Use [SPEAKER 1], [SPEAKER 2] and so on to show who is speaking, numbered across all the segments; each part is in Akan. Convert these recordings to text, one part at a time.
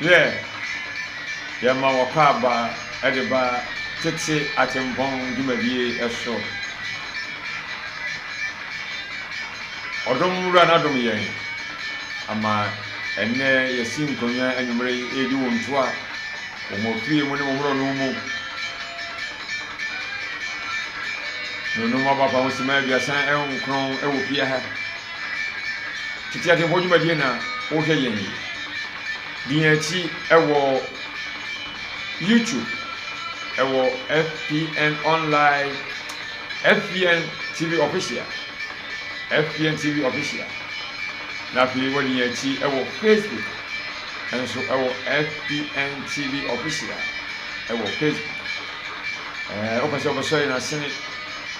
[SPEAKER 1] Yɛ yɛma wɔkɔ aba de ba tete atempɔn dwumadie so. Ɔdom Wura no adom yɛn ama ɛnnɛ yɛasi nkonnwa anwummere yi redi wo ntoa wɔ mo afie mu ne mo mmorɔno mu. Nnonom abakwa ho simma aduasa nkron wɔ fie ha. Tete Atemfo dwumadie na wohwɛ yɛn yi. Di yɛn akyi wɔ YouTube, ɛwɔ FPN Online, FPN TV Official, FPN TV Official. Na afei wɔde yɛn akyi wɔ Facebook, nso ɛwɔ FPN TV Official, ɛwɔ Facebook. Ɛɛ, wopɛ sɛ wɔbɛsɔ yɛn asene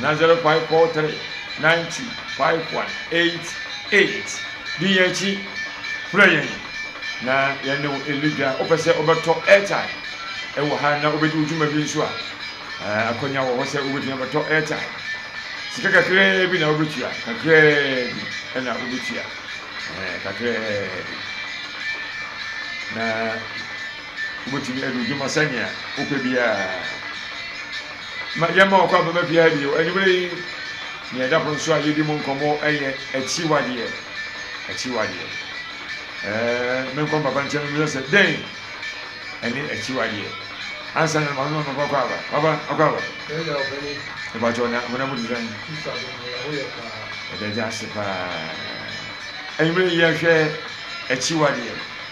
[SPEAKER 1] Nana zero five four three nine two five one eight eight di yɛn akyi frɛ yɛn na yɛn ne wo ɛli dwa wopɛ sɛ wobɛtɔ airtime ɛwɔ ha na wobɛdi wo dwuma bi nso a eh, akɔnya wɔ hɔ sɛ wobɛtumi abɛtɔ airtime sika kakraa bi na wobɛtua kakraa bi ɛna wobɛtua eh, kakraa bi na wobɛtumi adi wo dwuma sɛnea wopɛ biara Ma yɛmma wɔn kwan mmɛba fie ha bio anwummere yi. Nea ɛda pono so a yedi mu nkɔmmɔ yɛ akyiwadeɛ. Akyiwadeɛ. Ɛɛ, menkɔ me papa nkyɛn mmisa sɛ dɛn ɛne akyiwadeɛ. Ansa na maame ma me papa kɔ aba. Papa, akɔ aba. Mepakyɛw na honam mu te sɛn? Yɛda Agya ase paa. Anwummere yi yɛhwɛ akyiwadeɛ.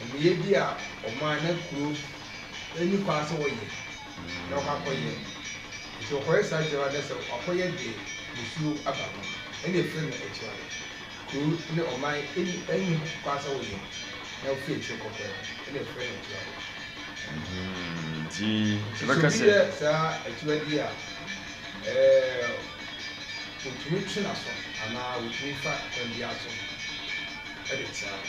[SPEAKER 2] Amumuyɛ bi a ɔman na kuro nni kwan sɛ wɔyɛ na ɔkɔ akɔyɛ nti ɔkɔyɛ saa adwuma no sɛ wakɔyɛ de nsuo aba ho ɛna efiri no akyire no kuro ne ɔman nni kwan sɛ wɔyɛ na ɔfiri akyire kɔkɔyɛ hɔ ɛna efiri no akyire hɔ nti
[SPEAKER 1] sɛ obi yɛ saa akyiwadeɛ
[SPEAKER 2] a ɛɛ wɔtumi twe n'aso anaa wɔtumi fa kwan biara so ɛde tea no.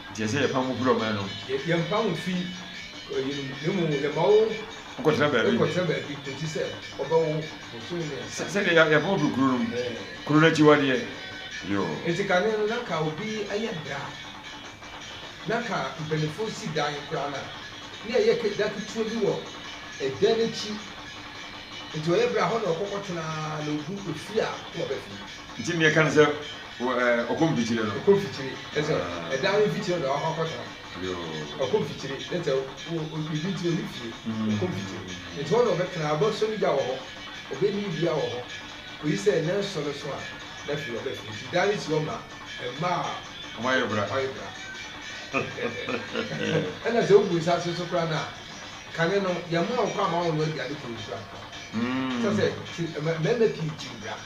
[SPEAKER 2] Nkyɛ
[SPEAKER 1] sɛ yɛpam wo firi ɔman no mu. Yɛ, yɛmpam wo mfi
[SPEAKER 2] ɔyere mu, na mmom yɛma wo. Kɔtena baabi.
[SPEAKER 1] Kɔtena baabi kɔsi
[SPEAKER 2] sɛ wɔbɛwo bosome mmiɛnsa. Sɛ, sɛdeɛ yɛ, yɛpam wo firi
[SPEAKER 1] kuro no mu. Ɛɛ. Kuro no akyiwadeɛ. Yoo. Enti kane no, na
[SPEAKER 2] ka obi yɛ bra, na ka mpanimfoɔ si dan koraa no a, na yɛyɛ ke, da ketewa bi wɔ ɛdan no akyi. Enti ɔyɛ bra, hɔ na ɔkɔ kɔtena ara, na ɔgu efie a, na waba fie. Nti nea ɛka no sɛ
[SPEAKER 1] ɔkɔ mfikyire no. Ɔkɔ mfikyire ne sɛ
[SPEAKER 2] ɛdan no mfikyire na wakɔ akɔtra. Ɔkɔ
[SPEAKER 1] mfikyire ne
[SPEAKER 2] sɛ biribi nti ɔnni fie. Ɔkɔ mfikyire nti hɔ na ɔbɛtra, ɔbɛsɔ ne gya wɔ hɔ, ɔbɛni dua wɔ hɔ kɔsi sɛ nnanson no so a na afei ɔba fie. Nti dan no si hɔ ma mma a wɔayɛ bra. Ɛnna sɛ wobu nsa ase nso koraa no a, kane no, yɛmma wo kwan mma wonnoa aduane koro nsuo anka. Kyerɛ sɛ mmarima pii gye bra.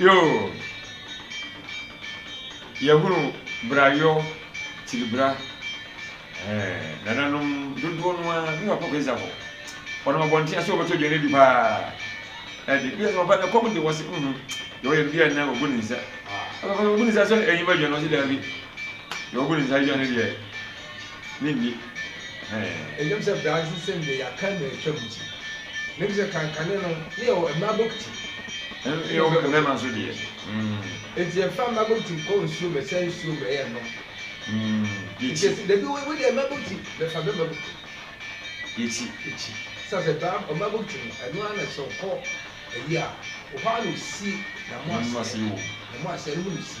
[SPEAKER 1] Yoo, yɛhunu brayɔ tiri bra. Ɛɛ, nananom dodoɔ no ara, ne papa Kwesi Afo, ɔnam abɔnten ase ɔbɛtɔ aduane adi paa. Ɛde, bi a sɛ papa na ɛkɔm de wɔ se, mhm, deɛ ɔyɛ no bi a na ɔbu ne nsa. Papa sɛ ɔbu ne nsa sɛ ɛnyima aduane, ɔse daabi, deɛ ɔbu ne nsa aduane deɛ. ne nni hɛn.
[SPEAKER 2] Ndwom sɛ bra nsesem de yɛakan na etwa mu ti. Ndwom sɛ kan kane no ne yɛwɔ mmra bokiti. Ɛnna yɛwɔ
[SPEAKER 1] mmarima nso deɛ. Enti
[SPEAKER 2] yɛfa mmra bokiti kɔ nsuo bɛsa nsuo mbrɛ yɛn nom.
[SPEAKER 1] Enti yɛsi dabi wo
[SPEAKER 2] deɛ mmra bokiti bɛfa bɛma bokiti. Yɛsi.
[SPEAKER 1] Yɛsi. Sa
[SPEAKER 2] sɛ bra ɔmmra bokiti no ɛno ara na sɛ ɔkɔ ayi a hɔ ara na osi na mo aseɛ. Na mo aseɛ no mu na osi.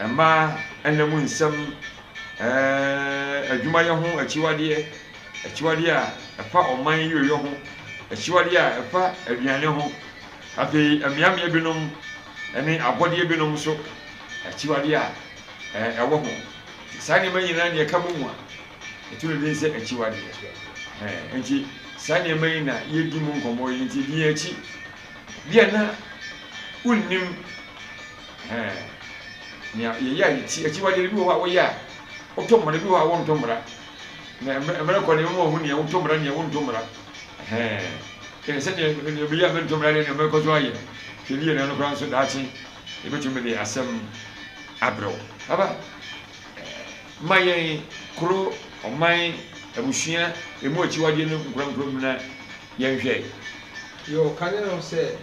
[SPEAKER 1] Mmaa nna mu nsɛm, adwumayɛ ho akyiwadeɛ, akyiwadeɛ a ɛfa ɔman yieyɔ ho, akyiwadeɛ a ɛfa aduane ho, afei mmeammea binom ne abɔdeɛ binom nso akyiwadeɛ a ɛwɔ ho. Saa nneɛma nyinaa na ɛka bɔ mu a ɛto no din sɛ akyiwadeɛ. Nti saa nneɛma yi na yɛdi mu nkɔmmɔ yi nti din akyi. Bia na wonnim ɛɛn nea yɛyɛ a yɛti akyiwadeɛ no bi wɔ hɔ a woyɛ a wotɔ mmara bi wɔ hɔ a wontɔ mmara na mmerɛ kɔ ne ɛmɛma ɔhu neɛ wotɔ mmara neɛ wontɔ mmara ɛɛn kɛne sɛ neɛ neɛ bɛyɛ a mentɔ mmara deɛ neɛ mɛkɔ so ayɛ hwɛ ne yɛ na no koraa nso daakye yɛbɛtumi de asɛm abrɛ wo aba ma yɛn koro ɔman abusua ɛmu akyiwadeɛ no nkorankora mu na Yɛnhwɛ. Deɛ ɔka
[SPEAKER 2] ne no sɛ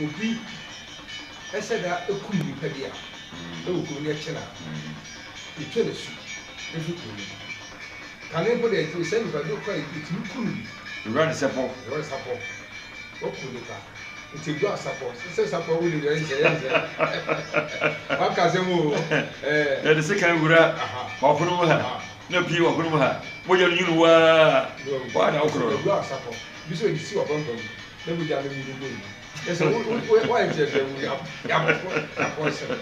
[SPEAKER 2] obi sɛ da kum nnipa bi a ɛwɔ kuro no yɛkye no a yɛtwa no asu firi kuro no mu. Kane mpo deɛ sɛ nnipa bi kɔ a yɛtumi ku no bi. Ewura de sapɔ.
[SPEAKER 1] Ewura de sapɔ.
[SPEAKER 2] Waku nnipa. Nti ɛgu asapɔ. Sɛ sapɔ wo deɛ yɛnsɛ yɛnsɛ. Waka asɛm o. Yɛde
[SPEAKER 1] sekan wura w'apono mu ha. Na pii wɔ hɔnom ha. Mogya no nwunu wo ara a, hɔ ara na wokorɔ no. Wura Sapɔ, bi
[SPEAKER 2] sɛ ɔde si w'apampam mu na mogya no nwunu gu no. Kyerɛ sɛ, wo, wo, wo, woayɛ nteatea wu, yɛ, yɛ abɔfo akɔnsɛm.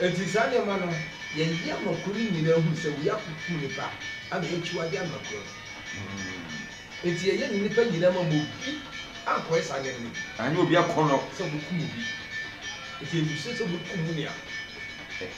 [SPEAKER 2] Enti saa nneɛma no, yɛyɛ ama kuro no nyinaa hunu sɛ wei akokum nipa ama yɛakyiwade ama kuro no. Enti yɛyɛ no nnipa nyinaa ma ma obi ankɔyɛ saa nneɛma no bi. Anyɛ obi akɔnnɔ.
[SPEAKER 1] Sɛ wɔbɛkum obi.
[SPEAKER 2] Enti ɛnni so sɛ wɔbɛkum wo nua.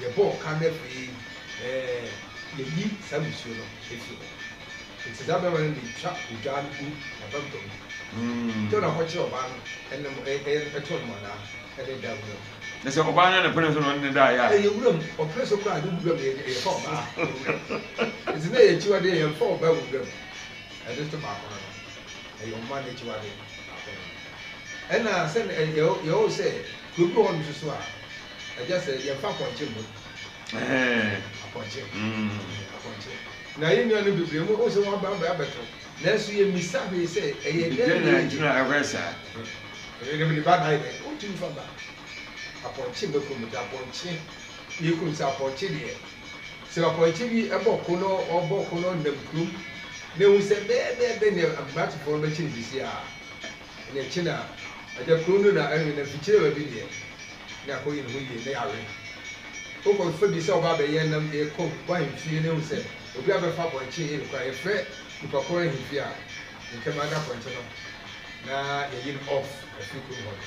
[SPEAKER 2] Yɛbɔɔ ka na afei yɛayi saa nsuo no afiri hɔ. Enti saa barima no de twa odwaa no gu n'apampam de na ɔkɔkyere ɔbaa no ne mo ɛyɛ too no mɔnaa de da wuram. Kyerɛ sɛ ɔbaa no na
[SPEAKER 1] ɛpene so na ɔne no daeɛ a. Ɛyɛ wuram, ɔpene so
[SPEAKER 2] koraa a ne wuram yɛ yɛfa ɔbaa wɔ wuram. Enti na ɛyɛ akyiwadeɛ yɛmfa ɔbaa wɔ wuram. Ɛno nso baako no no. Ɛyɛ ɔman no akyiwadeɛ baako no no. Ɛna sɛ yɛwɔ sɛ kuro bi wɔ hɔnom nso so a. Agya sɛ yɛmfa apɔnkye mmɔ bi. Ɛhɛn. Apɔnkye. Mm. Ɛɛ, apɔnkye. Na yɛn nuanom bebree mu, wohu sɛ wɔaba abɛ abɛto. Nanso yemmisa hwee sɛ, ɛyɛ dɛn Dɛn na na enti na ɛhwɛ
[SPEAKER 1] saa? Ɛyɛ dɛ mede
[SPEAKER 2] ba dae dɛ. Wontumi mfa ba. Apɔnkye mmɛko mu da. Apɔnkye, yɛkunu sɛ apɔnkye deɛ, sɛ apɔnkye bi bɔ ko na ɔbɔ ko na ɔnam kurom na ehu sɛ bɛyɛbɛyɛbɛ nea Ambratofoɔ no bɛkye no sisi a, Ɛnna akyi no a, ɛda koro no na ɛrewe no, mfikyirewa bi deɛ, na ɛkɔyɛ ne ho yie, na yɛawe no. Wokɔ fa bi sɛ ɔba abɛyɛ nam de rekɔ w'ahemfie na ehu sɛ obi abɛfa apɔnkye reyɛ kora a, yɛfrɛ nnipa korɔ ahemfie a ntɛm ara na apɔnkye no, na yɛyi no off afiri kurom hɔ no.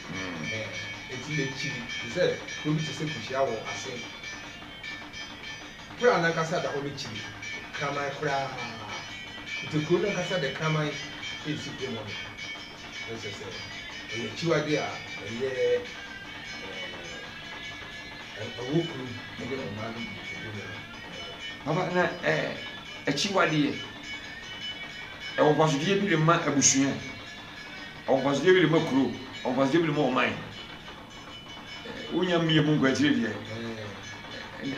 [SPEAKER 1] Ɛɛ,
[SPEAKER 2] enti akyiri te sɛ kuro bi te sɛ Kuhyia wɔ ase bere a n'ankasa da hɔ no kyiri kraman koraa te kuro no ankasa de kraman resi kurom hɔ no. Na kyerɛ sɛ ɛyɛ akyiwade a ɛyɛ ɛɛ, ɛwɔ kuro ne ɔman no mu edu no
[SPEAKER 1] ho. Papa, na ɛɛ, akyiwadeɛ, ɛwɔ mfasodeɛ bi de ma abusua? Ɔwɔ mfasodeɛ bi de ma kuro, ɔwɔ mfasodeɛ bi de ma ɔman. Wonya mmie mu nkwankyire deɛ,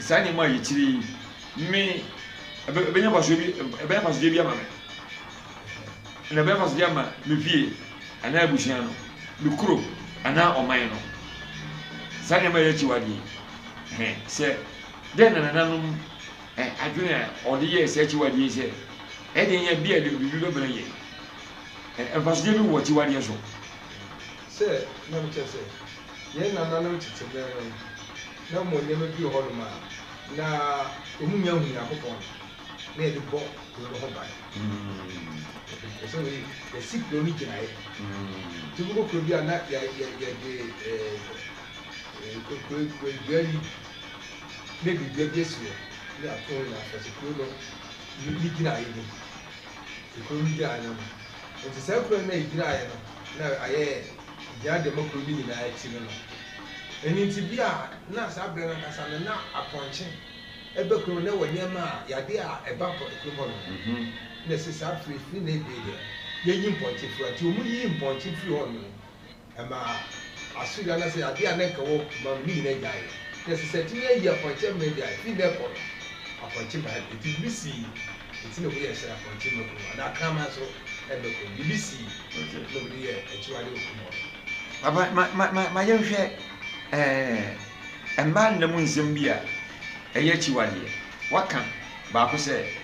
[SPEAKER 1] saa nneɛma a yɛkyiri yi, me ɛbɛnya mfasodeɛ bi ɛbɛnya mfasodeɛ bi ama me, na ɛbɛnya mfasodeɛ ama me fie anaa abusua no, me kuro anaa ɔman no. Saa nneɛma a yɛakyi wadeɛ yi, sɛ dɛn na nananom adwene a ɔde yɛɛ saa akyiwadeɛ yi sɛ ɛde yɛ bi a biribi bɛbrɛ yɛn. Mfasodeɛ bi wɔ akyiwadeɛ so. Sɛ
[SPEAKER 2] na mekyerɛ sɛ yɛn nananom tete berɛ no na wɔn nneɛma bi wɔ hɔnom a na wɔn nnya nhu Nyankopɔn no, na yɛde bɔ kuro no ho ban. Yɛpɛ sɛ wei yɛsi kuro no gyinaeɛ. Nti wobɛkɔ kuro bi a na yɛ yɛ yɛde ɛɛ kue kue kue dua yi ne biribi bi asi hɔ ne apono nyinaa kyerɛ sɛ kuro no ne gyinaeɛ ni. kuro no gyina no ho. Enti saa kuro no a ɛgyinaeɛ no na ayɛ gyina dɛm kuro no nyinaa akyi no no. Ɛno nti bia na saa berɛ no ankasa no na apɔnkye ɛba kuro no na ɛwɔ nneɛma a yadeɛ a ɛba kuro hɔ no. Na ɛsɛ saa firi firi na ɛbie deɛ yɛyi mpɔnkye firi hɔ. Nti wɔn yii mpɔnkye firi hɔ no. Ɛmaa asori anaasɛ ade a na anka ɛwɔ koma mu no nyinaa gyaee. Ná ɛsɛ sɛ ɛtumi ayi apɔnkye mmɛn de ayɛ, fi nnɛ rekɔ no, apɔnkye mmɛn. Enti biribi sii, enti na wɔyɛ sɛ apɔnkye mmɛkuro no, anaa kraman so mmɛkuro no. Biribi sii na wɔde yɛɛ akyiwade wɔ kurom hɔ no. Papa, ma, ma,
[SPEAKER 1] ma, ma yɛnhwɛ, ɛɛ, mmaa nna mu nsɛm bi a ɛyɛ akyiwadeɛ. Wɔaka baako sɛ,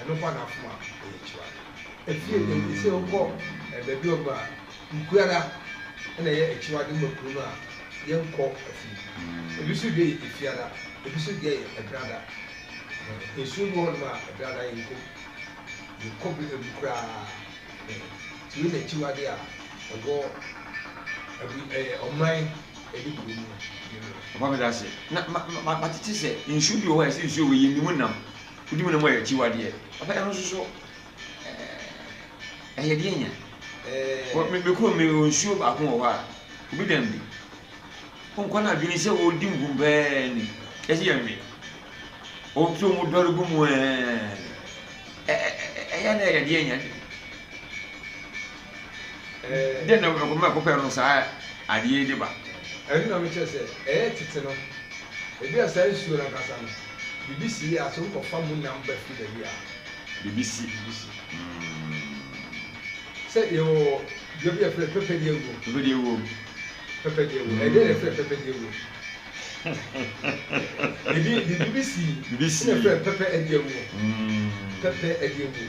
[SPEAKER 2] Ɛno fa n'akoma yɛ kyewa. Afie nnɛ yi sɛ wokɔ baabi hɔ nom a, nku ara na ɛyɛ akyiwade ma kunu no a yɛnkɔ afie. Ebi nso deɛ yɛ efiada, ebi nso deɛ yɛ ɛbrada. Nsuo bi wɔ hɔ nom a ɛbrada yɛnkɔ mu, yɛnkɔ bɛ mu koraa. Nti wei na akyiwade a ɛwɔ abu ɛɛ ɔman ɛne kuro mu no. Papa
[SPEAKER 1] meda ase. Na ma ma matete sɛ nsuo bi wɔ hɔ a ɛsɛ nsuo wei yɛnni mu nam. Wodi mu no mu yɛ akyiwadeɛ. Papa ɛno nso so ɛɛ ɛyɛ deɛ nya wɔ me me kurom me wɔ nsuo baako wɔ hɔ a obi dan bi nkɔ no adwene sɛ ɔredi nkum pɛɛ ni ɛsɛ yɛ nwe ɔpɛ ɔmu dɔre gu mu ɛɛ ɛyɛ na ɛyɛ deɛ nya Dɛn na wɔkɔ mɛkɔ pɛ no saa adeɛ yi de ba? Ɛno na mekyerɛ
[SPEAKER 2] sɛ ɛyɛ tete no. Ebi a saa nsuo no ankasa no, biribi si yɛ a, sɛ wokɔfa mu nam ba firi baabi a, biribi si.
[SPEAKER 1] Biribi si.
[SPEAKER 2] Sɛ yɛwɔ dua bi a yɛfrɛ no pɛpɛdeɛ wuo. Pɛpɛdeɛ wuo. Pɛpɛdeɛ wuo. Ɛdeɛ na yɛfrɛ pɛpɛdeɛ wuo. Biribi biribi si. Biribi si. Na yɛfrɛ pɛpɛ adeɛ wuo. Pɛpɛ adeɛ wuo.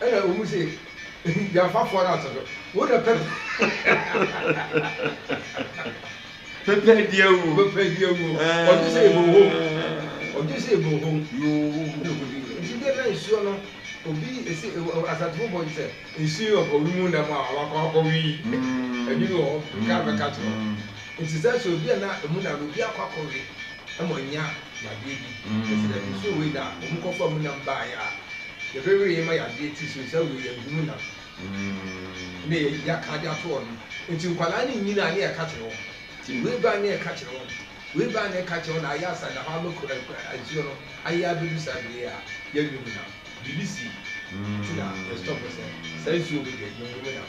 [SPEAKER 2] Ɛna wɔn se, Ehi, yɛafa fɔre ato so, wo na pɛ pɛ di awuo. Pɛ pɛ di awuo. Ɔdwe sɛ ebo hom. Ɔdwe sɛ ebo hom. Nti dɛ na nsuo no, obi ese Asantefo bɔ gye sɛ nsuo yi ɔkɔ wimu nna mu a wakɔ akɔ wi. Ɛdwene wɔ hɔ, car bɛka to hɔ. Nti sɛ sɛ obi a na emu na no, obi akɔ akɔ wi. ma ɔanya yadeɛ bi. Enti na nsuo wei na wɔkɔfaa mu nam baeɛ a yɛbɛweeɛ ma yadeɛ ti so nsa wieɛ no, ɛmu nam na yɛaka de ato hɔ no. Enti nkwadaa no nnyini a na yɛka kyerɛ wɔn. Nti wei baeɛ na yɛka kyerɛ wɔn, wei baeɛ na yɛka kyerɛ wɔn na ayɛ asa da hɔ ara mako ɛ nsuo no ayɛ abɛdu saa berɛ yi a yɛnwe mu nam. Biribi sii nti na yɛstɔpo sɛ saa nsuo wei deɛ yɛnwe mu nam.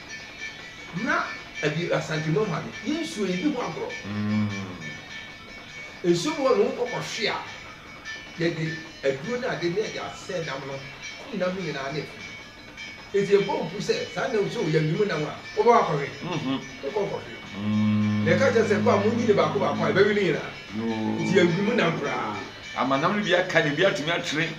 [SPEAKER 2] Na ɛde Asante Moha no yɛ nsuo yi bi ho agorɔ. Nsuo bi hɔ no wokɔkɔ hwe a, yɛde aduro ne ade ne yɛde asɛ nam no kum nam no nyinaa ne ɛfiri. Nti yɛbɔ wo pu sɛ saa nam sɛ ɔyɛ awimu nam a, wobɛkɔ akɔ hwe? Wokɔ nkɔ hwe. Na yɛka kyerɛ sɛ kɔ a monyi ne baako baako a ɛbɛwe ne nyinaa. Nti yɛ awimu nam koraa. Ama nam no bi aka na ebi atumi atwere.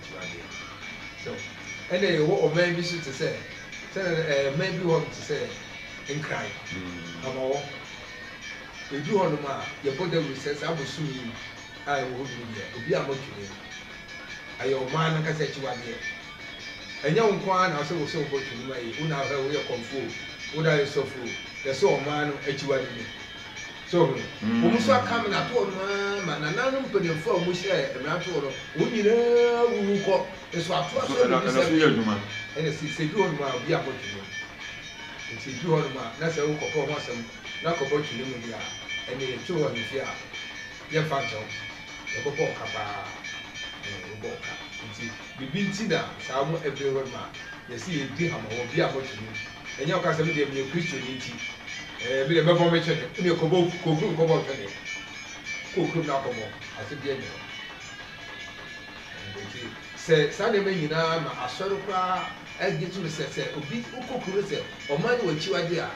[SPEAKER 2] ntuadea. So ɛna yɛwɔ ɔman bi so te sɛ sɛnɛ no ɛɛ man bi wɔ hɔ nom te sɛ Nkran, Hamawɔ. Ɛduru hɔ nom a yɛbɔ dawuro sɛ saa bosom yi a ɛwɔ hɔ duru deɛ obi a mɔtwene mu. Ɛyɛ ɔman no ankasa akyiwadeɛ. Ɛnyɛ wo nko ara na ɔsɛ wo sɛ wobɔ twene mu a wo na ahwɛ wo yɛ kɔmfoɔ o, wo na ayɛ sɔfoɔ o, yɛsɛ ɔman no akyiwade no. So ɔho? Wɔn nso aka mmaratoɔ no ara ma nananom mpanimfoɔ a wɔn hyɛ mmaratoɔ no wɔn nyinaa wuwu kɔ. Nso ato aso ɛna ɛna so yɛ adwuma. Ɛna si sɛ edu hɔ nom a obi abɔ twene mu. Nti edu hɔ nom a na sɛ wo kɔkɔ ho asɛm na kɔbɔ twene mu deɛ a ɛna yɛ twe wɔ ahemfie a yɛ nfa nkyɛ wo. Yɛ bɔ bɔ ɔka paa. Ɛɛ yɛ bɔ bɔ ɔka. Nti biribi nti na saa wɔn ɛbere hɔ nom a yɛ si yɛ di hama wɔ obi abɔ twene mu. Ɛnyɛ ɔka sɛ, Medeɛ meyɛ Kristoni nti, ɛɛ, medeɛ mɛbɔ me twene. Wodeɛ kɔbɔ, kɔ kurom kɔbɔ twene. Kɔ kurom na kɔbɔ. Asedeɛ nyɛ hɔ. Nti, sɛ saa nneɛma nyinaa ma asɔre koraa agye tom sɛ, sɛ obi, wokɔ kuro no sɛ, ɔman no wɔ akyiwadeɛ a,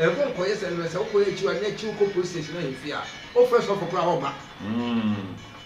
[SPEAKER 2] ɛmfa nkɔyɛ sɛ, ɛno sɛ wokɔyɛ akyiwadeɛ na akyi wokɔ polisi station, ahemfie a, wofrɛ sɔfo koraa a, ɔmma.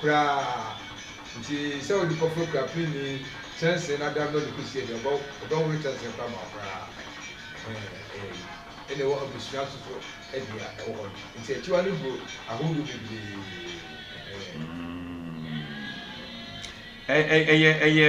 [SPEAKER 2] koraa ntsi sɛ wo nyimpa fua kura pirinyi kyɛnsee na adandɔ no kosi ewie a ɔbɔ ɔbɔwor kyɛnsee no koraa ma wo koraa ɛɛ nna ewɔ ebusua so so dea ɛwɔ hɔ no ntsi ekyiwa no gu ahorow bebree ɛɛ. Mm, ɛ
[SPEAKER 1] ɛ ɛyɛ ɛyɛ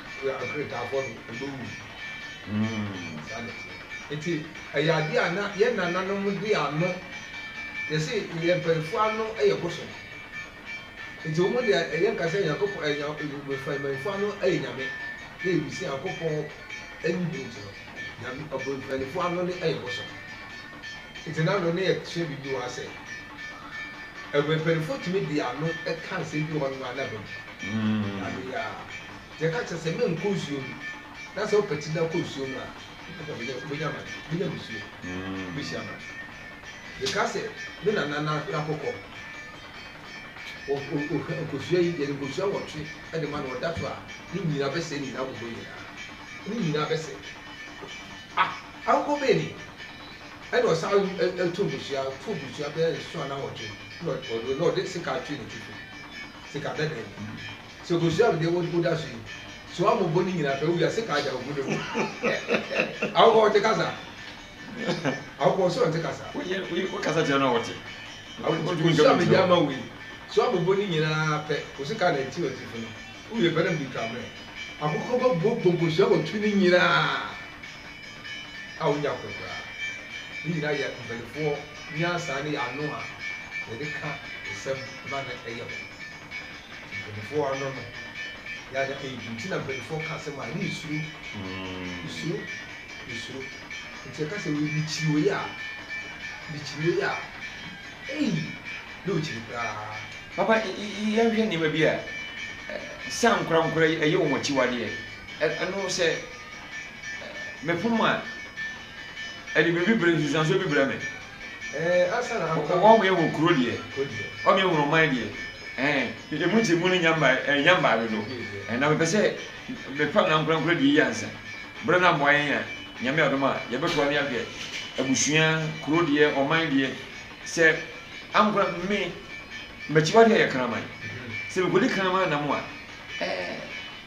[SPEAKER 2] Wɔ Akretaafoɔ no ɔbɛwu mm saa na ɛteɛ. Nti ɛyɛ adeɛ a na yɛn nananom de ano yɛse yɛn mpaninfoɔ ano yɛ bosom nti wɔn de yɛn ka sɛ Nyankopɔn ɛ nya mpaninfoɔ ano yɛ Nyame na yɛnim sɛ Nyankopɔn ɛnni hɔ nti no Nyame ɔbo mpaninfoɔ ano no yɛ bosom nti na no ne yɛsua biribi wɔ ha sɛ ɛ mpaninfoɔ tumi de ano ka nsɛm bi wɔ hɔ nom a na ɛba mu mm. Deɛ ɛka kyerɛ sɛ menkɔ nsuo mu, na sɛ wopɛ tiri na kɔ nsuo mu a, ɛna wobɛnya wobɛnya amane, wobɛnya musuo, wobɛhyia amane. Mekaa sɛ, me nana na n'akokɔ, ɔ ɔ ɔhwɛ nkosua yi, yɛde nkosua nwɔtwe de ma no, ɔda so a, ne nnyina abɛsɛe ne nyinaa akokɔ nyinaa, ne nnyina abɛsɛe. Ah! Akokɔ bɛn ni? Ɛna ɔsan ɛ ɛ ɛto nkosua, ɔto nkosua bɛyɛ nson anaa nwɔtwe, ɛna ɔde ɔde sekaa twee n'atifi, sekaa dɛdɛn bi. Sɛ okosuaa me deɛ wo wo da so yi so a mo bɔ ne nyina pɛ wo wiase ka agya obu ne wo awokɔ ɔte kasa awokɔ ɔsɛ ɔnte kasa wo yɛ wo kasa kyerɛ
[SPEAKER 1] no ɔte awokɔ tu nka
[SPEAKER 2] me deɛ ama wei so a mo bɔ ne nyina pɛ wo se ka na eti ɔte fo no wo wie pɛ na mede twa mmerɛ akokɔ bɛ bɔ bɔ nkosua wɔ tu ne nyina a wo nya koro koraa ne nyina yɛ mpanifoɔ nyansa ne yɛ ano a yɛde ka nsɛm ma no ɛyɛ ho. Mpaninfoɔ ano no yɛada adi nti na mpaninfoɔ ka asɛm a ne nsuro nsuro nsuro nti ɛka sɛ wei mekyiri wei a mekyiri wei a ei ne ɔkyiri koraa. Papa
[SPEAKER 1] yɛnhwɛ nneɛma bi a sɛ ankorankora yi ɛyɛ wɔn akyiwadeɛ ɛno sɛ mefom a ɛde biribi brɛ nsunsuansoɔ bi brɛ me.
[SPEAKER 2] Ɔkɔ wee wɔ
[SPEAKER 1] kuro deɛ, ɔmee wɔ ɔman deɛ, ɛɛ emu nti emu no nya mba ɛɛ nya mbaa dodo. Ɛɛ na mepɛ sɛ mefa na nkorankora die yi ansa. Bere na mmoa yɛn a, Nyame adom a, yɛbɛtoa ne ahwɛ abusua, kuro deɛ, ɔman deɛ. Sɛ ankora me, makyiwadeɛ yɛ kraman. Sɛ mekɔdi kraman nam a, ɛɛ.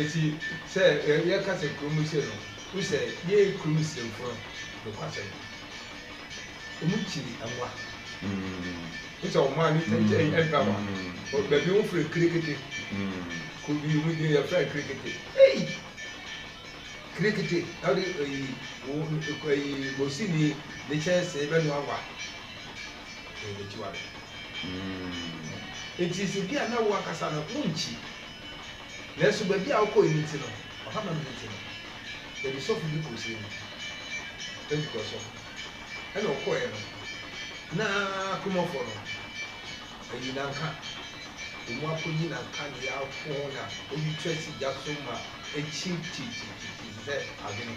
[SPEAKER 2] Eti sɛ yɛka sɛ kurom no sei no, wohu sɛ yɛn kurom Muslimfo no, nokwasɛm, wɔkyi mmoa. Wohu sɛ wɔn a ne tɛm kyɛ ɛmpɛ mmoa. Baabi wɔfrɛ no kirekete. Kuro bi wɔn din yɛfrɛ no kirekete. Ei! Kirekete na wode eyi, eyi bosini ne kyɛnsee bɛnoa mmoa. Ɛyɛ ne tiwa de. Mm. Enti nso bi a na wo ankasa no wonkyi. Nanso baabi a wokɔe no nti no, ɔha ma mene nti no, yɛde sɔfo bi kɔɔ sini mu. Ɛnti kɔɔ sɔfo. Ɛna ɔkɔeɛ no, na Kumɔfoɔ no ayi nanka. Wɔn akɔyi nanka ne yɛ afo na wɔde tu asi gya so ma akyin titititi te sɛ adwene.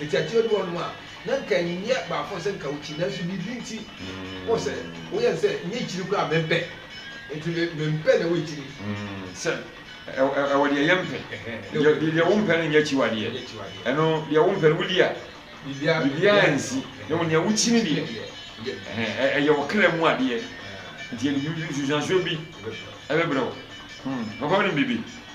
[SPEAKER 2] Enti akyire bi wɔ hɔnom a, na nka nyɛ baako sɛ nka wokyi, nanso biribi nti wohu sɛ woyɛ no sɛ nyɛ kyiri koraa a mempɛ. Enti me, mempɛ na woakyiri. Sɛ ɛwɔ deɛ yɛmpɛ, deɛ wompɛ no nyɛ akyiwadeɛ. Ɛno, deɛ wompɛ no wodi a, biribiara nsi. Na mmom nea wokyi no deɛ, ɛyɛ wo kra mu adeɛ. Enti ɛde nsusuansoɔ bi bɛbrɛ wo. Papa wonim biribi?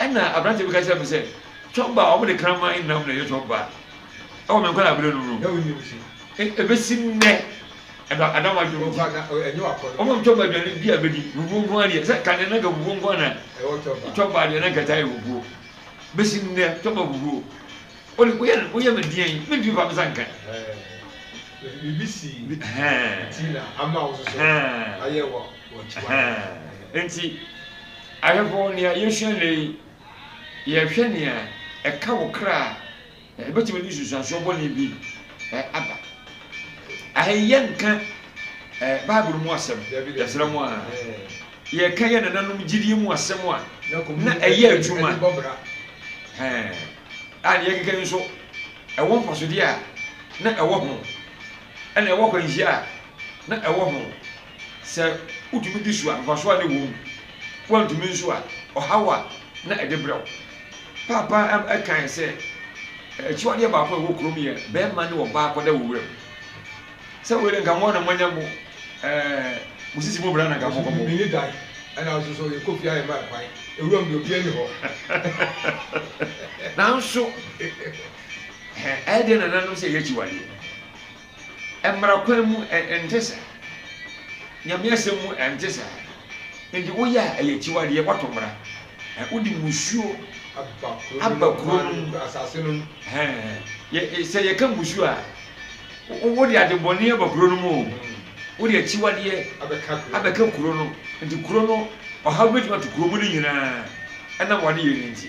[SPEAKER 2] Ɛna aberanteɛ bi ka kyerɛɛ me sɛ, Tɔba a wɔde kraman nnam na ɛyɛ tɔba wɔ me nkwadaa berɛ nom no, ɛbɛsi nnɛ ɛna ada m'adwene mu nti, wɔma me tɔba aduane bi a mɛdi, fufuo nko ara deɛ, sɛ kane na nka fufuo nko ara na tɔba deɛ na nka ɛtaa yɛ fufuo, bɛsi nnɛ tɔba fufuo, wode woyɛ no woyɛ me deɛn, mentumi fa me nsa nka. Biribi sii nti na ama wo nso so ayɛ wɔ. Enti, ahwɛfo, nea yesua nnɛ yi, yɛhwɛ nea ɛka wo kra a, ebetumi de nsunsuanso bɔne bi aba. Aha yi yɛnka Bible mu asɛm, yɛsrɛ mo a, yɛka yɛn nananom gyidie mu asɛm a na ɛyɛ adwuma a ne yɛkeka yi nso ɛwɔ mfasodeɛ a na ɛwɔ ho ɛna ɛwɔ akwanhyia a na ɛwɔ ho. Sɛ wutumi di so a, mfaso a na ɛwom. Woantumi nso a, ɔhaw a na ɛde brɛ wo. Paapa kae sɛ, Akyiwadeɛ baako a ɛwɔ kurom yɛ barima ne ɔbaa kɔda wɔ wuram. Sɛ wei de, anka mo na moanya mo mo sisi mu bra na anka mokɔbɔ. Ɔsɛ minni dan, ɛnna nso so yɛkɔ fie a yɛmma ɛkwan. Wuram deɛ obiara nni hɔ. Nanso, ɛyɛ dɛn na nananom sɛ ɛyɛ akyiwadeɛ?
[SPEAKER 1] Mmara kwan mu ɛnte saa. Nyame asɛm mu ɛnte saa. Nti woyɛ a ɛyɛ akyiwadeɛ, woato mmara. Wode mmusuo aba kuro no mu. Sɛ yɛka mmusuo a, wode adebɔne aba kuro no mu o, wode akyiwadeɛ abɛka kuro no. Nti kuro no, ɔhaw bɛtumi ato kuro mu no nyinaa ɛnam w'adeyɛ no nti.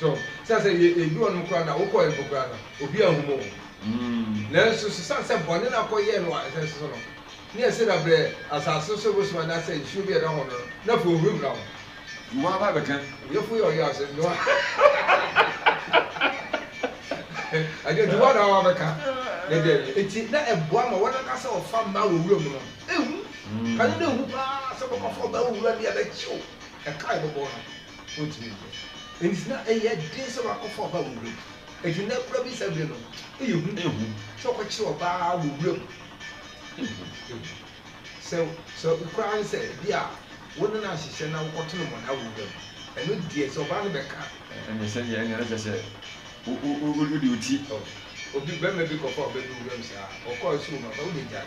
[SPEAKER 2] So sɛ sɛ yɛ edu hɔ nom koraa na wo kɔɛ mpo koraa no obi anhu mo nanso so sane sɛ bɔne no akɔ yɛɛ no wɔ asase so no ne ɛse na brɛ asase so bosom anaasɛ nsuo bi ɛda hɔ no no na fo ohuri bra ho Wo aba abɛka.
[SPEAKER 1] Yɛ fo yɛ ɔyɛ asem
[SPEAKER 2] no Agya nti woa na wa bɛka ne deɛ yɛ eti na ɛboa ma wɔn ankasa ɔfa mmaa wɔ wuram no ehu kane no ehu paa sɛ bɛkɔ fa ɔbaa wɔ wuram ne ɛbɛkyew ɛka a yɛbɛbɔ no, wontumi nyɛ. Enti na ɛyɛ den sɛ wɔakɔfa ɔbaa wɔ wuram. Enti nnɛ koraa bi saa bere no, ɛyɛ hu sɛ wɔkɔkyere ɔbaa wɔ wuram. Sɛ sɛ koraa ne sɛ ebia wo ne no ahyehyɛ na wokɔto no mmonnaa wɔ wuram, ɛno deɛ sɛ ɔbaa no bɛka a, Ɛnneɛ sɛdeɛ ɛnneɛ
[SPEAKER 1] na kyerɛ sɛ wode wo ti. Obi, barima
[SPEAKER 2] bi kɔfaa ɔbaa bi wɔ wuram saa, ɔkɔɔ so wom a, ɔbaa wobɛgyae.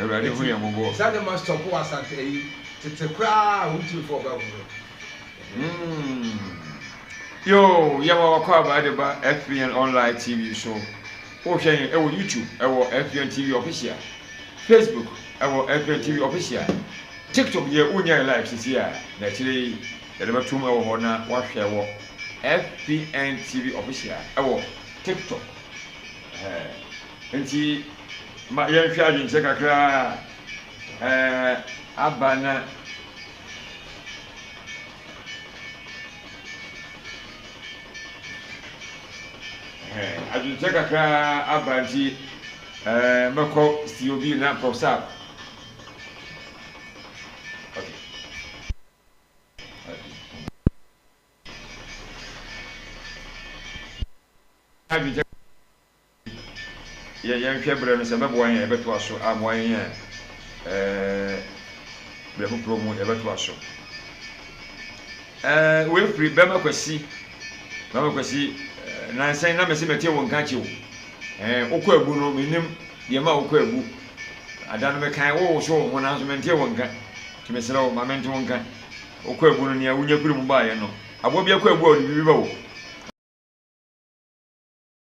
[SPEAKER 1] Awurade hu yɛn mmɔbɔ. Saa nneɛma stop wɔ asante
[SPEAKER 2] ayi tete koraa a wontumi fɔ ɔba mu no.
[SPEAKER 1] Yoo, yɛn wa wakɔ aba de ba FBN online TV so. Wohwɛ yɛn ɛwɔ YouTube ɛwɔ FBN TV official, Facebook ɛwɔ FBN TV official, TikTok deɛ wonya yɛ live sisi a na akyire yi yɛde bɛtom ɛwɔ hɔ na wahwɛ wɔ FBN TV official ɛwɔ TikTok. Enti ma yɛnhwɛ adwenkyerɛ kakra a aba na adwenkyerɛ kakra a aba nti mɛkɔ Steve Obi na Prof Sab. Yɛnhwɛ berɛ no sɛ ɛbɛboa yɛn a yɛbɛtoa so, ammoa yɛn a berɛ foforɔ mu yɛbɛtoa so. Wei firi Bɛma Kwasi, Bɛma Kwasi, nansa yi na mese mete wo nka kye wo. Wokɔ abu no, menim deɛ ma wokɔ abu. Ada no mekae wo wo so wo ho nanso mentee wo nka. Nti mesrɛ wo ma mente wo nka. Wokɔ abu no nea wonya firi mu baeɛ no, aboa bi akɔ abu a ɔde biribi ba o.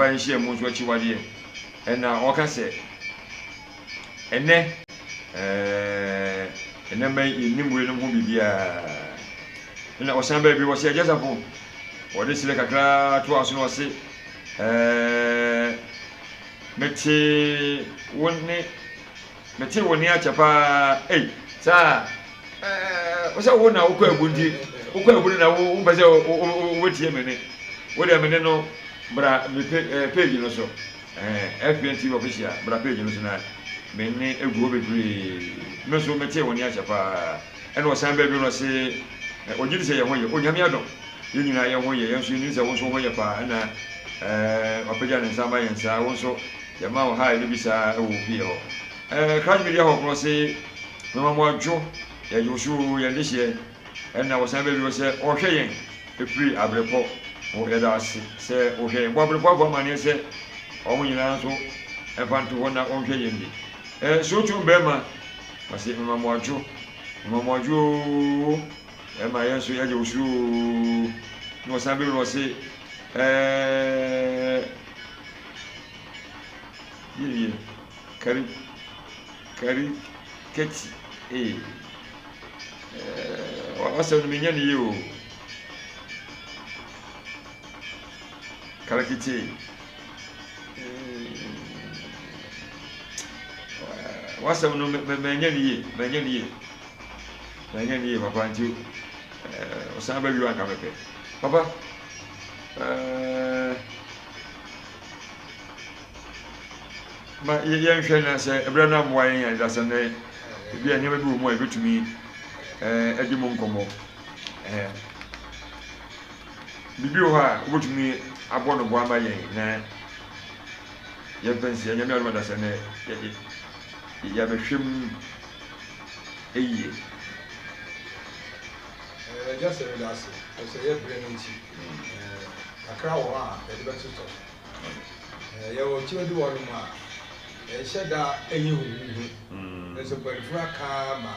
[SPEAKER 1] Aba nhyiam nso akyiwadeɛ ɛna ɔka sɛ ɛnɛ ɛɛɛ ɛnɛ mɛ yɛnim weinom ho biribiara ɛna ɔsan baa bio ɔse Agyasafo ɔde serɛ kakraa toa so na ɔse ɛɛɛ mete wo ne Metee wo nne akyɛ paa ei saa ɛɛ wo sɛ wo na wo kɔ abu nti wo kɔ abu no na wo mpɛ sɛ wo bɛ tie me ne wo deɛ me ne no bra me pe ɛɛ page no so ɛɛ FBN TV official bra page no so na me ne egu hɔ bebree me nso metee wo nne akyɛ paa ɛna ɔsan bɛ bi no se ɛɛ ɔgye di sɛ yɛn ho yɛ onyame adom yɛn nyinaa yɛn ho yɛ yɛn nso yɛn nim sɛ wo nso ho yɛ paa ɛna ɛɛ wapagya ne nsa ama yɛn saa wo nso Yɛma wo hae no bi saa wɔ wo pie hɔ. Ɛɛ, Christ Media hɔ korɔ se mema mo adwo, yɛgye wo so oo, yɛn dehyeɛ, ɛna wo san bɛwie hɔ sɛ ɔhwɛ yɛn firi abrepɔ ho, yɛda ase sɛ wo hwɛ yɛn, bɔ abrepɔ fo amaneɛ sɛ ɔmo nyinaa nso mfa nto hɔ na wɔnhwɛ yɛn bi. Ɛɛ, Sootwom Bɛɛma ɔse mema mo adwo, mema mo adwo oo, ɛma yɛn nso yɛgye wo so oo, na ɔsan bɛwie hɔ se ɛɛ, Yiye, kari, kari, kati, ee. Ɛɛ, w'asɛm no menya no yie o. Karikiti. W'asɛm no menya no yie, menya no yie. Menya no yie papa nti ɛɛ ɔsan bɛ wi anka mepɛ. Papa ɛɛ. Ma yɛnhwɛ na sɛ ɛberɛ no ammoa yɛn a, dasɛm dɛn? Ebi a nneɛma bi wɔ mu a yɛbɛtumi eh, adi mu nkɔmmɔ. Eh, biribi wɔ hɔ a wobɛtumi abɔ no boa ama yɛn na yɛmfa nsi anyame adom adasɛm dɛ yɛabɛhwɛ mu yie. Ɛɛ, agya sɛ meda ase, ɛfisɛ yɛ
[SPEAKER 2] berɛ no nti. Kakra wɔ hɔ a yɛde bɛtotɔ. Yɛwɔ turo bi wɔ hɔnom a ɛnhyɛ da nyɛ huhuuhu, nanso mpanyinfoɔ aka ama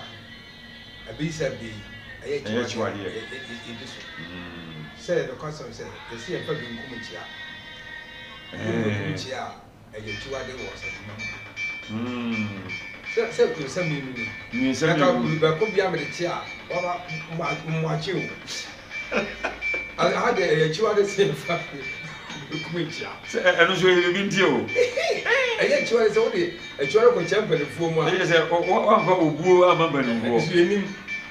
[SPEAKER 2] abisa bi ɛyɛ akyiwadeɛ a yɛdi so sɛ nokwasɛm sɛ yɛse yɛmfa benkum nkyea, yɛmfa benkum nkyea a. ɛyɛ akyiwade wɔ ɔsadwuma mu anaa? Sɛ sɛ nyinsɛm yi mu ni. Nyinsɛm yi mu. Ɛka kuru bɛko bia mede kye a, waba mmoakye o. Aha deɛ ɛyɛ akyiwade sɛ yɛfa bɛkum akyia. Sɛ ɛno nso ɛyɛ biribi
[SPEAKER 1] nti o. Ɛyɛ akyiwade
[SPEAKER 2] sɛ wode akyiwade kɔkyɛ mpanimfoɔ mu a. Ɛyɛ sɛ wɔamfa
[SPEAKER 1] obuo amma mpanimfoɔ. Ɛno nso yɛnim.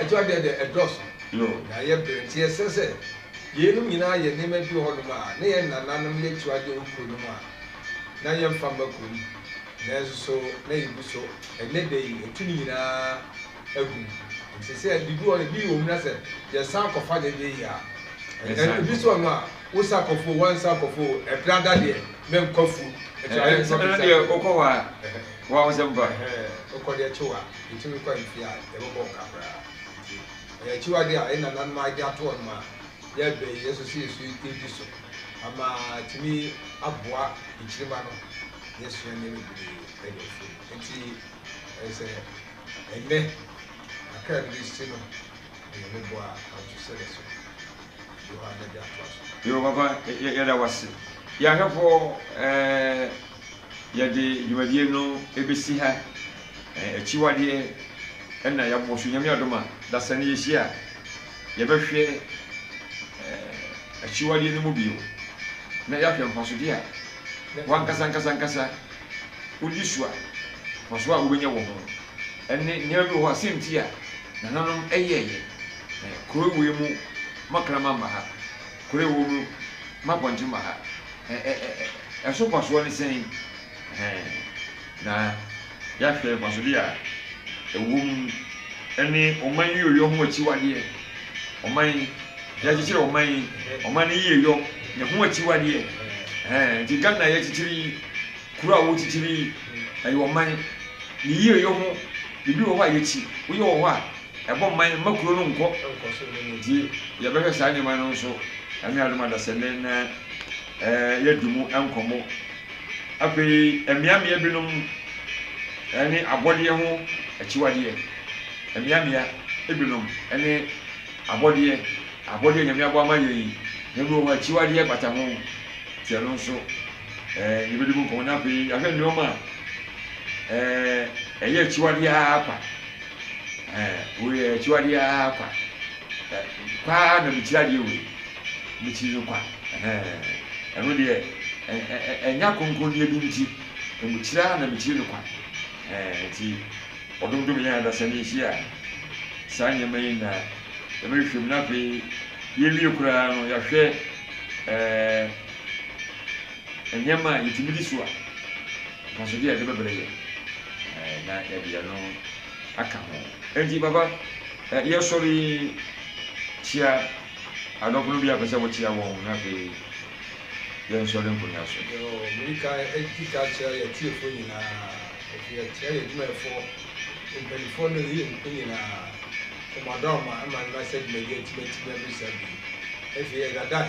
[SPEAKER 2] Akyiwadeɛ deɛ ɛdɔɔso na ɛyɛ
[SPEAKER 1] brɛ nti
[SPEAKER 2] ɛsɛ sɛ yeinom nyinaa yɛ nneɛma bi wɔ hɔnom a na yɛn nananom yɛ akyiwadeɛ wɔ kuro no mu a na yɛmfa mma kurom nanso so na yɛgu so ɛnnɛ da yi atu ne nyinaa agu mu nti sɛ biribi wɔ ebi wɔ mu na sɛ yɛsan kɔfa deɛ deɛ yi a ebi so wɔ no a wosa akɔfo wansa akɔfo ɛbrɛ ada deɛ mɛnkɔ afuo ɛno deɛ
[SPEAKER 1] wokɔ hɔ a woa wo sɛ mfa wokɔ deɛ kyewa
[SPEAKER 2] Yetumi kɔ mfe a, yɛbɛbɔ nka koraa. Enti, ɛyɛ akyiwade a yɛn nananom ayɛ de ato hɔnom a yɛbɛn yɛn so sɛ yɛso yɛn ti so ama atumi aboa nkyirimma no. Yɛasua nneɛma bebree wɔ afuo no mu. Enti, ɛyɛ sɛ ɛnnɛ kakra a ɛde besi no, ɛyɛ me bo a ahotoso sɛ yɛbɛso de hɔ ara na ɛde atoa so. Yoo, papa,
[SPEAKER 1] yɛda wo ase. Yɛn ahwɛfoɔ, ɛɛ. yɛde dwumadie no bɛsi ha. Akyiwadeɛ na yɛabɔ so. Nyame adom a, dasani yɛhyia a, yɛbɛhwɛ akyiwadeɛ no mu bio na yɛahwɛ mfasodeɛ a w'ankasa ankasa ankasa wodi so a, mfasoɔ a wobɛnya wɔ ho. Ɛne nneɛma bi wɔ hɔ a, sɛ nti a nananom yɛɛyɛ. Kuro wei mu makraman ba ha. Kuro a ɛwɔ mu ma pɔnkye ma ha. Ɛso mfasoɔ ne sɛn? Na yɛahwɛ mfasodeɛ a ɛwɔ mu ne ɔman yieyɔ ho akyiwadeɛ. Ɔman, yɛakyekyere ɔman, ɔman no yieyɔ, ne ho akyiwadeɛ. Nti Ghana a yɛakyekyere yi, kuro a wɔkyekyere yi, ɛyɛ ɔman, ne yieyɔ ho biribi wɔ hɔ a yɛkyi, woyɛ wɔ hɔ a. ɛbɔ mman mma kuro no nkɔ nti yɛbɛhwɛ saa nneɛma no nso anuadom adasɛnne na yɛadi mu nkɔmmɔ afei mmeammea binom ne abɔdeɛ ho akyiwadeɛ mmeammea binom ne abɔdeɛ abɔdeɛ nyame abɔ ama yɛn yi ebi wɔ hɔ akyiwadeɛ bata ho nti ɛno nso yɛbɛdi mu nkɔmmɔ na afei yɛahwɛ nneɛma a ɛyɛ akyiwadeɛ ara kwa Ɛɛ, wei yɛ akyiwadeɛ ara kwa. Ɛ, paa na mekyiri adeɛ wei. Mekyiri no kwa. Ɛhɛɛ, ɛno deɛ, ɛ, ɛ, ɛ, ɛnya kronkronyɛ bi nti, mekyiri ara na mekyiri no kwa. Ɛɛ, nti, wɔdomdom yɛn adasani nso a, saa nneɛma yi na yɛbɛhwehwɛ mu. Na afei, yɛwie koraa no, yɛahwɛ, ɛɛ. Nneɛma a yetumi di so a mfasode a ɛde bɛbrɛ yɛn na yɛde yɛn ho aka ho. Enti, papa, yɛsɔre yi, kyia adɔfonom bi a ɛpɛ sɛ wokyia wɔn, na afei yɛnsɔre nkɔ nnyina so. Yo, mede kan
[SPEAKER 2] adi ka akyerɛ yɛn atiefo nyinaa, afei akyia yɛn adwumayɛfo mpanimfoɔ ne yɛn nkuw nyinaa. Kɔm adɔ mo ma ɛma nnansa dwumadi a yɛatumi atim abisa bi. Afei, ɛda dan.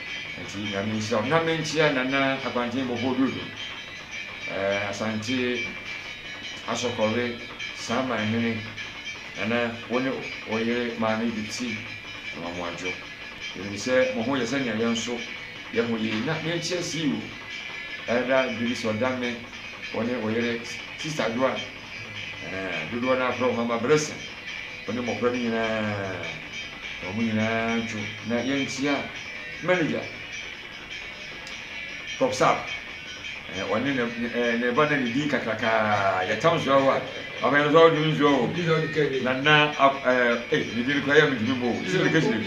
[SPEAKER 1] Nti Nyame nhyira wo. Nyame nkyea Nana Abanteng Bobo Dodo, eh, Asante Asɔkɔwe Saman hene, Nana wo ne wo yere Maame Betty Amoamoadwo. Yɛnim sɛ mo ho yɛ sɛnea yɛn nso yɛ ho yie. Na yɛnkyia CEO Elder Julius Ɔdame, wo ne wo yere Sister Adwoa. Ɛɛ, dodoɔ no ara frɛ wɔn ama berɛsa, wɔne mmɔfra no nyinaa, wɔn nyinaa ntwo na yɛnkyea manager Prof. Saab, ɛɛ, ɔne ne, ɛɛ, ne ba na ne din kakrakaa, yɛtam nsuo awa, papa yɛn nso ɔdum nsuo o, na na, ɛɛ, ee, ne din no koraa yɛ mentumi mbɔ o, sisi ne kesi ne,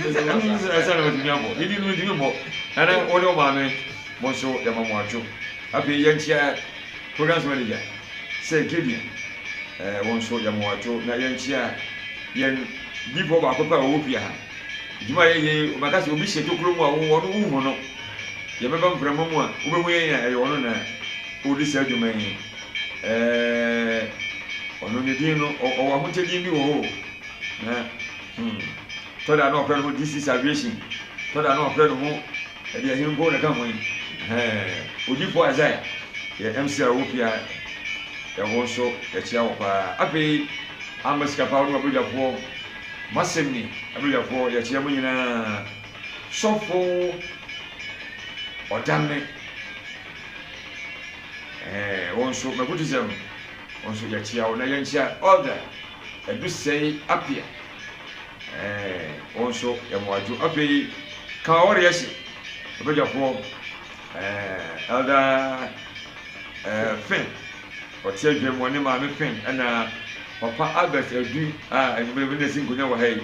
[SPEAKER 1] ɛsɛ na matumi abɔ, ne din no mentumi mbɔ, na na wɔne wɔn maame, mo nso yɛma mo atwo, afei yɛnkyea. Programs Manager, Sir Gideon, eh, wo nso yɛma wo ato na yɛnkyea yɛn difoɔ baako pɛ a ɔwɔ pia ha. Dwuma a yɛyɛ yi, wobɛka sɛ obi hyɛ tokuro mu a wo ɔno wonhu no. Yɛbɛba mframa mu a, wobɛhu yɛn a ɛyɛ ɔno na ɔredi saa dwuma yi. Eh, ɔno ne din no, ɔ- ɔwɔ ahokyɛdeɛ bi wɔ hɔ o. Na, hmm, tɔ da na ɔfrɛ ne ho This is Aviation, tɔ da na ɔfrɛ ne ho Ɛdeɛ he nko na ɛka ho yi? Hɛɛ! Odiyifoɔ Isaiah yɛ MC a ɔwɔ fie ha, yɛho nso yɛkyea wo paa. Afei Amma Sikapaw ne w'abadwafoɔ, M'asɛm Ni abadwafoɔ yɛkyea mo nyinaa. Sɔfo Ɔdane, ɛɛ wo nso Magudism wo nso yɛkyea wo na yɛnkyea Elder Adusɛe Appiah. ɛɛ wɔn nso yɛn adwo afei ka ɔre ɛhyɛ ɔbɛgyafoɔ ɛɛ ɛda ɛɛ fɛn ɔte adwa mu ɔne maame fɛn ɛna papa albert adu a enyimire bi na esi nkonnwa wɔ ha yi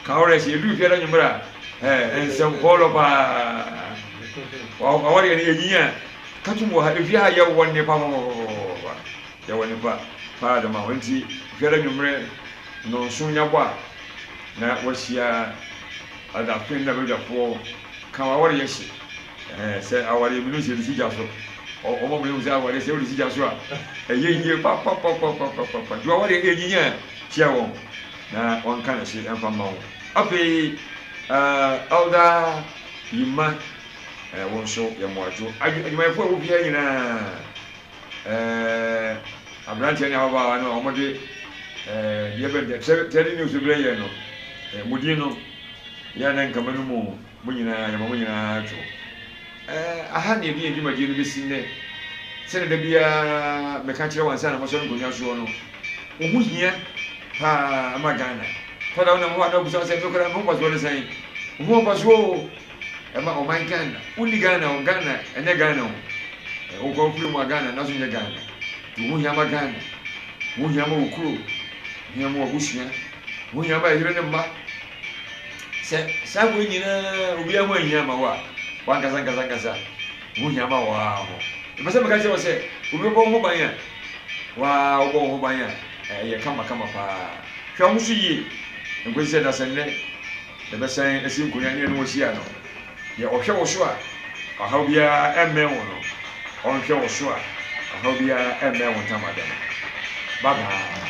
[SPEAKER 1] ka ɔre ɛhyɛ edu fiara enyimire a ɛɛ nsɛm pɔɔlɔ paa ɔwɔre yɛn yɛ nyinya katum wɔ ha efie ha yɛ wɔ nnepa pɔpɔpɔpɔpɔ. Yɛwɔ nyimpa paa dɛm a, hɔn ntsi hwɛ dɛ ewimbir ndɔnsuon nya bɔ a, na woehyia adapɛn na badwafoɔ kã w'awaryɛ hye. Ɛhɛn, sɛ awaryɛ mu no sɛ edzi gya so, ɔma mehu sɛ awaryɛ sɛ wodzi gya so a, ɛyɛ yie papapapapapapa. Ntsi w'awaryɛ enyinya a, kyia hɔn na wɔnkã no hye mfa mma wo. Afei, Elder Yimah, wo so yɛ mbowadwo adwumayɛfoɔ a wofi ha nyina. Ɛɛ, aberanteɛ ne ababaawa no a wɔde ɛɛ deɛ bɛn deɛ tɛri tɛri news no brɛ yɛn no, ɛɛ mo din no yɛ na nkama no mu mo nyinaa yɛma mo nyinaa to. Ɛɛ aha na yɛde yɛn dwumadie no bɛsi nnɛ. Sɛdeɛ da biara meka kyerɛ wɔn ansa na mosɔre nkonnwa soɔ no, wo ho hia paa ma Ghana. Fa da wonam hɔ a na wobisa wo sɛ, me koraa me ho kɔ soɔ ne sɛn? Wo ho nkɔ soɔ o. ɛma ɔman Ghana. Wonni Ghana o, Ghana ɛnyɛ Ghana o. Wo nkwa wo firi mu a Ghana nanso nyɛ Ghana. Nti ho hia ma Ghana, ho hia ma wo kuro, ho hia ma w'abusua, ho hia ma yere ne mma. Sɛ saa wei nyinaa obiara ho anhia ma wo a, w'ankasa ankasa ankasa ho hia ma wo ara ho. Mepɛ sɛ meka kyerɛ wo sɛ obi bɛbɔ wo ho ban a, wo ara wobɔ wo ho ban a ɛyɛ kama kama paa. Hwɛ wo ho so yie nkɔsi sɛ dasɛnnɛ Yɛbɛsan asi nkonnwa ne ɛne wo ahyia no. Deɛ ɔhwɛ wo so a ɔhaw biara mmɛn wo no, ɔnhwɛ wo so a ɔhaw biara mmɛn wo ntamadan. Bye bye.